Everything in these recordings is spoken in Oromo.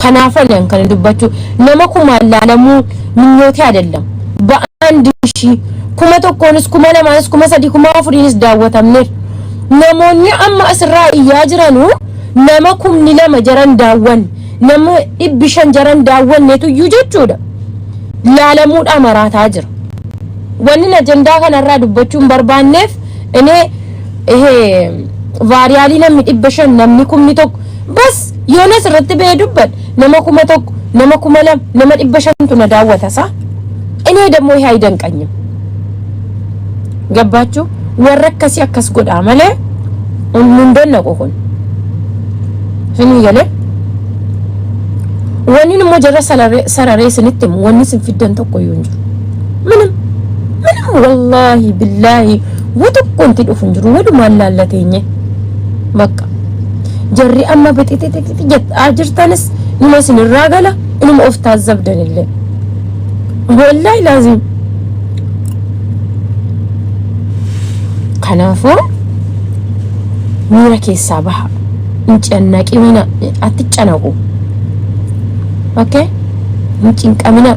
Kanaafan an kana dubbachuu nama kumaan laalamuu minyootee adellam. Ba'aan dishii kuma tokkoonis kuma lamaanis kuma sadii kuma afuriinis daawwatamneef. Namoonni amma asirraa iyyaa jiranu nama kumni lama jaran daawwanne nama dhibbi shan jaran daawwanneetu iyyuu jechuudha. Laalamuudhaa maraataa jira. Wanni ajandaa kanarraa dubbachuun barbaanneef inee vaariyaalii namni dhibba shan namni kumni tokko bas yoonas irratti ba'ee dubban nama kuma tokko nama kuma lama nama dhibba shantu na daawwata isaa inni dammoo haa danqanyu gabbaachuu warra akkasii akkas godhaa malee nun dannaqu kun isinii galee wanni immoo jarra sararee isinitti himu wanni isin fiddan tokko yoo hin jiru minam minam wallaahi billaahi Wa tokko wanti dhufu hin jiru walumaan laalla teenye bakka jarri amma bixixixixi jettaa jirtanis numa isinirraa gala inuma of taazzabdan illee wallaahi laaziim kanaafuu miira keessaa baha hin cannaqimina atti canaqu okay hin cinqamina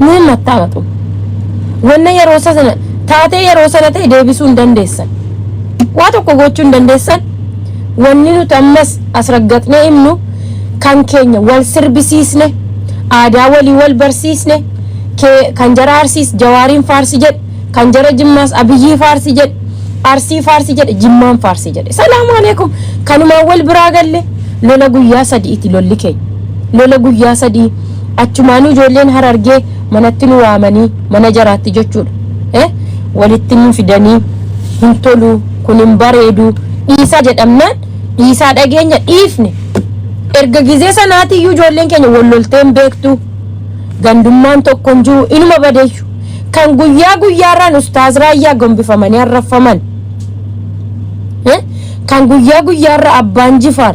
Nuun mattaamatu. Wanna yeroo sana taatee yeroo sana ta'e deebisuu hin dandeessan. Waa tokko gochuu hin dandeessan. Wanni nuti ammas as raggaxnee himnu kan keenya wal sirbisiisne aadaa walii wal barsiisne kee- kan jara arsiis jawaariin faarsi jedhe kan jara jimmaas abiyyii faarsi jedhe arsii faarsi jedhe jimmaan faarsi jedhe salaamu aleekum kanumaan wal biraa galle lola guyyaa sadi'iti lolli keenya lola guyyaa sadii Achumaanuu ijoolleen Harargee manatti nu waamanii mana jaraatti jechuudha. Eh? Walitti nu fidanii hin toluu kun hin bareeduu dhiisaa jedhamnaan dhiisaa dhageenya dhiifne. Erga gizee sanaatii iyyuu ijoolleen keenya wal loltee hin beektu. Gandummaan tokko hin jiru inuma badeeyyu. Kan guyyaa guyyaarraan ustaaz raayyaa gombifamanii arraffaman. Eh? Kan guyyaa guyyaarra abbaan jifaar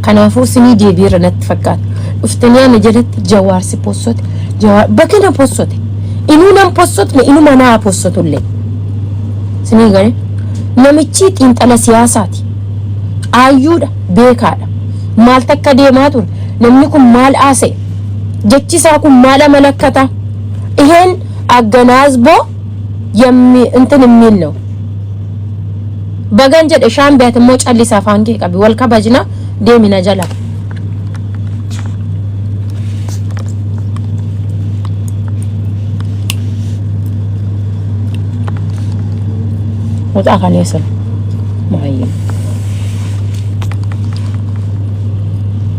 Kanaafuu sinii deebiirra natti fakkaata. Dhuftanii ana jalatti jawaar si possote. Jawaar bakka na possote. Inuu nan possotne inuma naa possotullee. Sinii gale namichi xiinxala siyaasaati. Aayyuudha beekaadha. Maal takka deemaa ture? Namni kun maal haasa'e? Jechi isaa kun maal amalakkata? Iheen agganaazzboo yammi intin immiil ነው Bagan jedhe shaambe ati immoo callisi afaan kee qabi wal kabajna deemi na jala. Mucaa kaneessa maayyee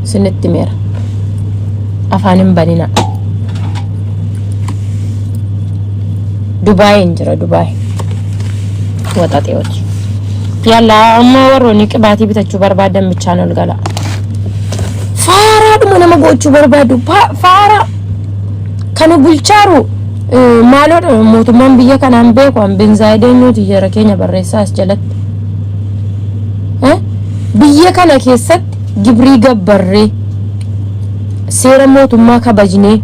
sinitti meera afaan hin banina Dubaay hin jira Dubaay. waxaxeewoti yalla amma warroonni qibaatii bitachuu barbaadan bichaan ol gala faaraadhuma nama gochuu barbaadu Pa- faaraa kana bulchaaru eh, maaloodha mootummaan biyya kanaan beeku an benzaayideen nuti jara keenya barreessaa as jalatti Eh? biyya kana keessatti gibrii gabbarree seera mootummaa kabajnee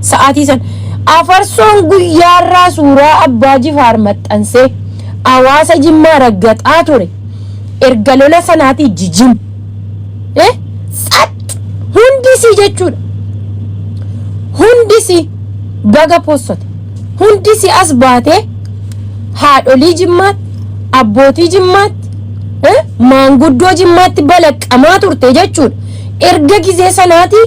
Sa'aatii san Afarsoon guyyaarraa suuraa Abbaa Jifaar maxxansee hawaasa Jimmaa raggaxaa ture. Erga lola sanaatii jijim. e Tsaxx! Hundi isii jechuudha. Hundi isii baga possate. Hundi isii as baatee haadholii Jimmaatti, abbootii Jimmaatti, e maanguddoo Jimmaatti balaqqamaa turte jechuudha. Erga gizee sanaatii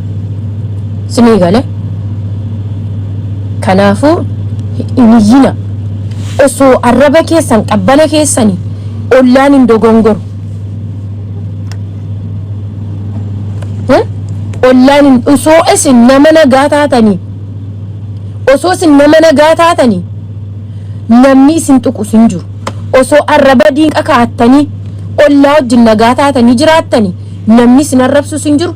Sinii gale. Kanaafuu hin iyyina. Osoo arraba keessan qabbana keessani ollaan hin dogongoru. Eh? Ollaan hin osoo isin nama nagaa taatanii osoo isin nama nagaa taatanii namni isin tuqus hin jiru. Osoo arraba diinqa kaa'attanii ollaa wajjin nagaa taatanii jiraattanii namni isin arrabsus hin jiru.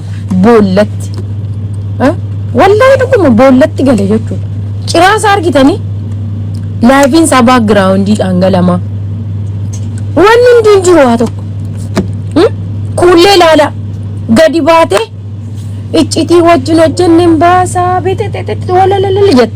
boollatti Eh, wallaahi dhuguma boollatti gale jechuudha ciraa isaa argitanii laayifiin isaa baakgiraawundii dhangalamaa wanni hundi hin jiru waa tokko Hmm? kuullee ilaala gadi baatee iccitii wajjin hojjenne hin baasaa beetetetetet walalalala jette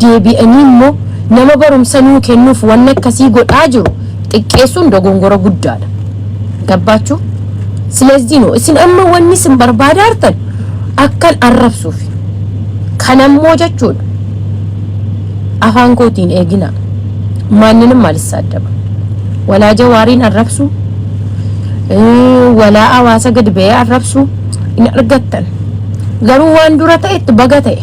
deebi'anii immoo nama barumsa nuu kennuuf wanna akkasii godhaa jiru xiqqeessuun dogongora guddaadha. Gabbaachuu? Sileezdii noo isin amma wanni isin barbaadaartan akkan arrabsuuf kan ammoo jechuudha afaan kootiin eeginaa maanninim maalissa addaba walaa jawaariin arrabsuu walaa hawaasa gad ba'ee arrabsuu hin argattan garuu waan dura ta'etti baga ta'e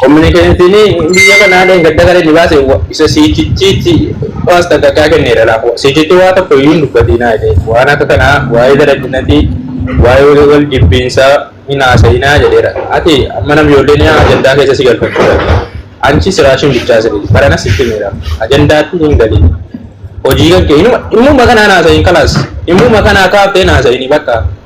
Kominikeeshinii biyya kanaa dheengadda gara inni baase isa siichichiitti waas takkakaa kenneera laafu. Siichichi waa tokko iyyuu hin dubbatiinaa jedhee waan akka kanaa waa'ee dadhabinatii waa'ee wal jibbiinsaa hin haasa'inaa jedheera. Ati amma nam ijoolleen yaa ajandaa keessa si galfachuu dhabde. Anchi siraashin bichaa sirrii barana sitti himeera. Ajandaatti hin galin. Hojii kan kee inuma immuma kanaan haasa'iin kalaas immuma kanaa kaaftee hin haasa'inii bakka.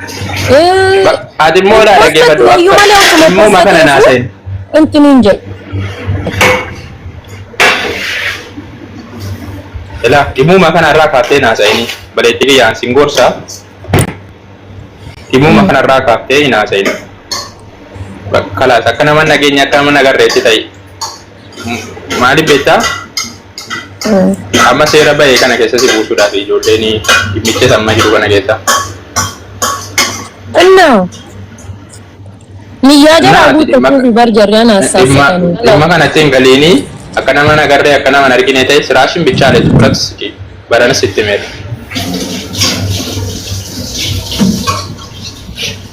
Eh, Ati immoo hin naa post dhaggeeffadhu iyyuu akka malee osuma immoo post makana naa ta'eef seen. wanti nuun jedhu. Ilaa dhimuma kana irraa kaaftee naa seeni. Baleetti kiyyaan sin gorsa. Dhimuma kana irraa kaaftee naa seeni. Kalaas akka nama nageenya akka nama nagarreetti ta'i. Maaliif beektaa? Amma seera bahee kana keessa si buusuudhaaf ijoolleen dhimmicha samma jiru kana keessa. Kunno. Niyyaa jara Naati guutte dhimma- kuufi bar jarri ana Dhimma assaasitanii. dhimma kanatti hin galiini akka nama hin agarree akka nama hin argine ta'e siraashin bichaa leetu fudhatu siti barana sitti meera.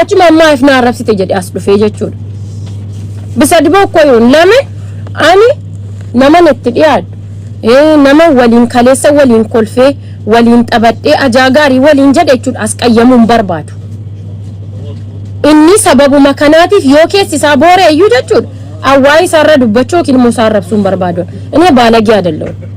Achuma ammaa if na arrabsite jedhe as dhufee jechuudha. Bisa diboo koo yoon lame ani naman itti dhiyaadhu. Eh, Nama waliin kaleessa waliin kolfee waliin taphadhee ajaa gaarii waliin jedhe jechuudha as qayyamuu hin barbaadu. Inni sababuma kanaatiif yoo keessi isaa booreeyyuu jechuudha. Awwaa isaarra dubbachuu yookiin immoo isaa arrabsuu hin barbaadu. Inni baalagee adalloo.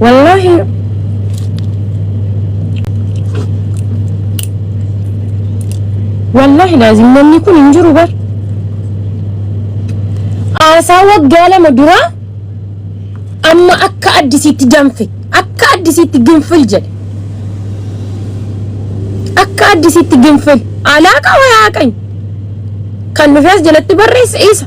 Wallaahi Wallaahi laazim namni kun hin jiru bar. Haasaa waggaa lama duraa amma akka addisiitti danfe akka addisiitti ginfil jedhe. Akka addisiitti ginfil alaaqa wayaa qany kan dhufees jalatti barreesse isa.